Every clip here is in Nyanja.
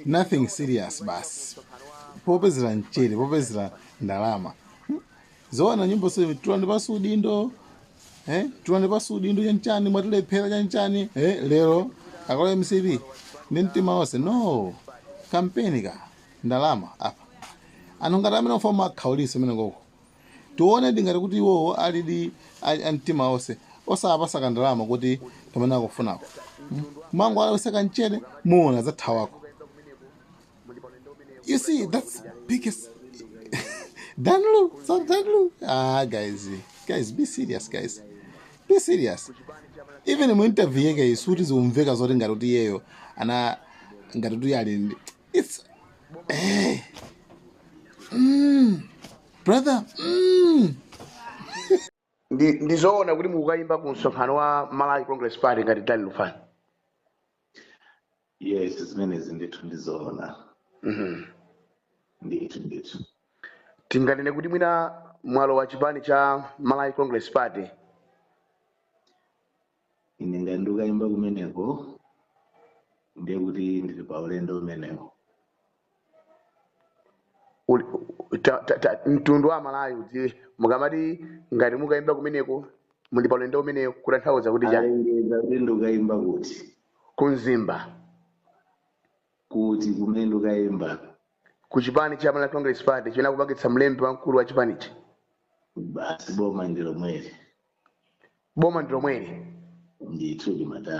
nothing serious basi popezera mchere popezera ndalama Hmm? zoona nyimbo za tulani pasi udindo eh? tulani pasi udindo chanchani mwatilephera chanchani eh? lero akola mcp ndi mtima wonse no kampeni ka ndalama apa anthu ngati amene ofoma akhauliso amenewa koko Tiwonedi ngati kuti iwowo alidi a, a mtima onse osawapasa kandalama kuti kamene akufunako mm? kumangowalawisa kamchere muona azathawako you see that's biggest danlu so danlu ah guys guys be serious guys be serious even mu interview yake sikuti zikumveka zoti ngati kuti iyeyo ana ngati kuti ali ndi- It's eh. Mm. Brother, mm. ndi ndizoona kuti mukukayimba ku msonkhano wa malawi congress party ngati dani lufani yes zimenezi ndithu ndizoona Mhm. ndithu ndithu tinganene kuti mwina mwalowa chipani cha malawi congress party ine ngati ndikukayimba kumeneko ndiye kuti ndili pa ulendo umenewo Uli- ta- ta- ta- mtundu wa malawi udziwe mukamati ngati mukukayimba kumeneko muli pa ulendo umenewo kutanthauza kuti chani alengeza kuti ndikukayimba kuti kunzimba kuti kumene ndikukayimba ku chipani cha malawi congress party chimene akupangitsa mlembi wamkulu wa chipanichi basi boma ndilomweli boma ndi lomweli ndithu limatha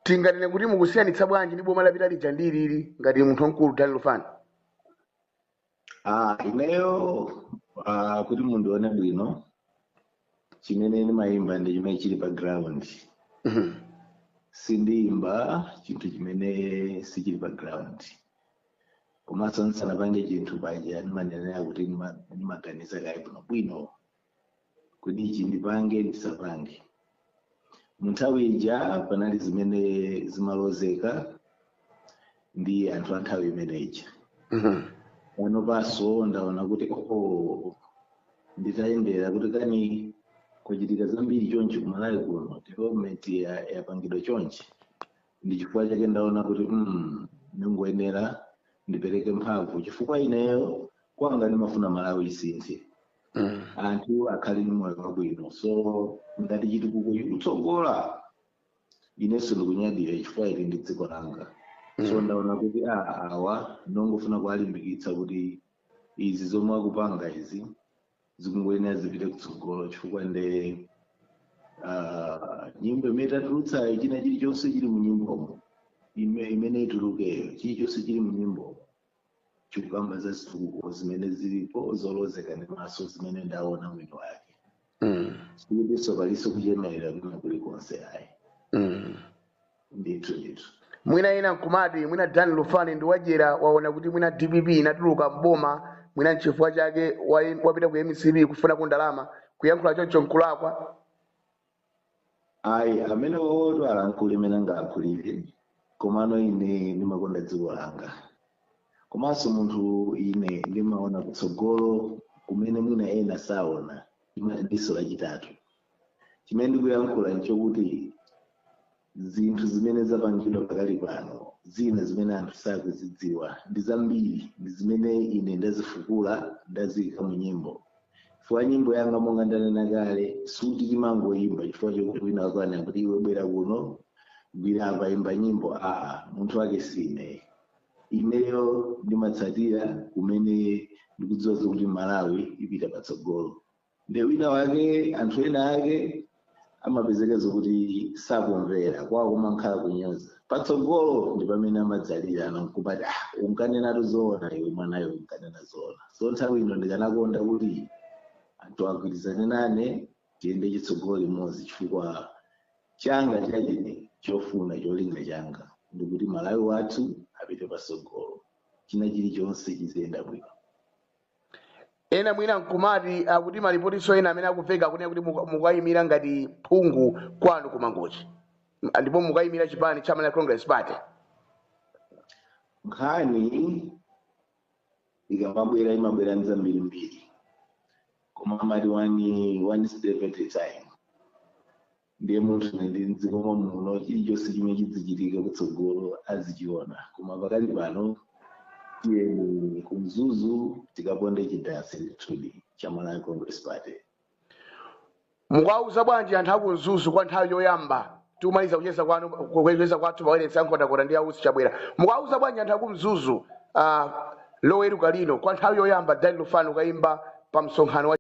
tinganene kuti mukusiyanitsa bwanji ndi boma lapita lija ndi ilili ngati munthu wamkulu dani lufani ah ineyo ah kuti mundione bwino chimene ndimayimba ndi chimene chili pa ground Mhm. sindiyimba chinthu chimene sichili pa ground komanso ndisanapange chinthu paja ndimanenera kuti ndima- ndimaganiza kaye bwinobwino kuti ichi ndipange ndisapange mu nthawi ija panali zimene zimalozeka ndi anthu a nthawi imene ija Mhm. panopanso ndaona kuti oo nditayendera kuti kani kuchitika zambiri chonchi kumalawi kuno development ya- yapangidwa chonchi ndi chifukwa chake ndaona kuti mm, ndingoyenera ndipereke mphamvu chifukwa ineyo kwanga ndimafuna malawi isinthe Mm. anthu akhale ndi moyo wabwino so ngati chitukuko chikutsogola inenso ndikunyadira chifukwa ili ndi dziko langa so Mm. ndaona kuti a awa ndingofuna kuwalimbikitsa kuti izi zomwe akupanga izi zikungoyenera zipite kutsogolo chifukwa nde ah, nyimbo imene tatulutsayo china chilichonse chili mu nyimbomo ime- imene itulukeyo chilichonse chili mu nyimbomo chikukamba za zitukuko zimene zilipo zolozeka ndi maso zimene ndaona mwini wake Mm. sikutinso palinso kuchemerera kwina kulikonse ayi Mm. ndithu ndithu mwina ena nkumati mwina dan lufani ndi wadyera waona kuti mwina dpp inatuluka mboma mwina nchifukwa chake wa- wapita ku mcp kufunako ndalama kuyankhula choncho nkulakwa ayi amene otero alankhule mene angalankhulire komano ine ndimakonda dziko langa komanso munthu ine ndimaona kutsogolo kumene mwina ena saona Ndima- diso lachitatu chimene ndikuyankhula nchokuti zinthu zimene zapangidwa pakali pano zina zimene anthu sakuzidziwa ndi zambiri ndi zimene ine ndazifukula ndaziyika mu nyimbo chifukwa nyimbo yanga monga ndanena kale sikuti timangoyimba chifukwa chokuti wina wakuwuza kuti iwe bwera kuno gwira apa imba nyimbo aa munthu wake sine ineyo ndimatsatira kumene ndikudziwa zokuti malawi ipita patsogolo nde wina wake anthu ena ake amapezeka zokuti sakumvera kwawo kumakhala kunyoza patsogolo ndi pamene amadzalira nkumati ah, unkanenatu zoona iwe mwanayo unkanena zoona so nthawi ino ndikanakonda kuti anthu agwirizane nane tiyende chitsogolo limodzi chifukwa changa chachine chofuna cholinga changa ndikuti malawi wathu apite patsogolo china chilichonse chiziyenda bwino Ena mwina nkumati akuti malipotinso ena amene akuveka akunena kuti muka- mukayimira ngati phungu kwanu ku Mangochi M- ndipo mukayimira chipani cha Malawi Congress Party. nkhani ikamabwera imabwera ndi zambirimbiri koma amati one, one step at a time ndiye munthu ine ndili mdziko mwa muno chilichonse chimene chidzichitika kutsogolo azichiona koma pakali pano tiyeni kumzuzu tikaponde chidansi ndithudi cha malawi congress party mukuwauza bwanji anthu akumzuzu kwa nthawi yoyamba tikumaliza kucheza kwanu kucheza kwathu pa wailesi ya nkhotakota ndi ausi chabwera mukuwauza bwanji anthu akumzuzu uh, loweruka lino kwa nthawi yoyamba dan lufani akayimba pa msonkhano wa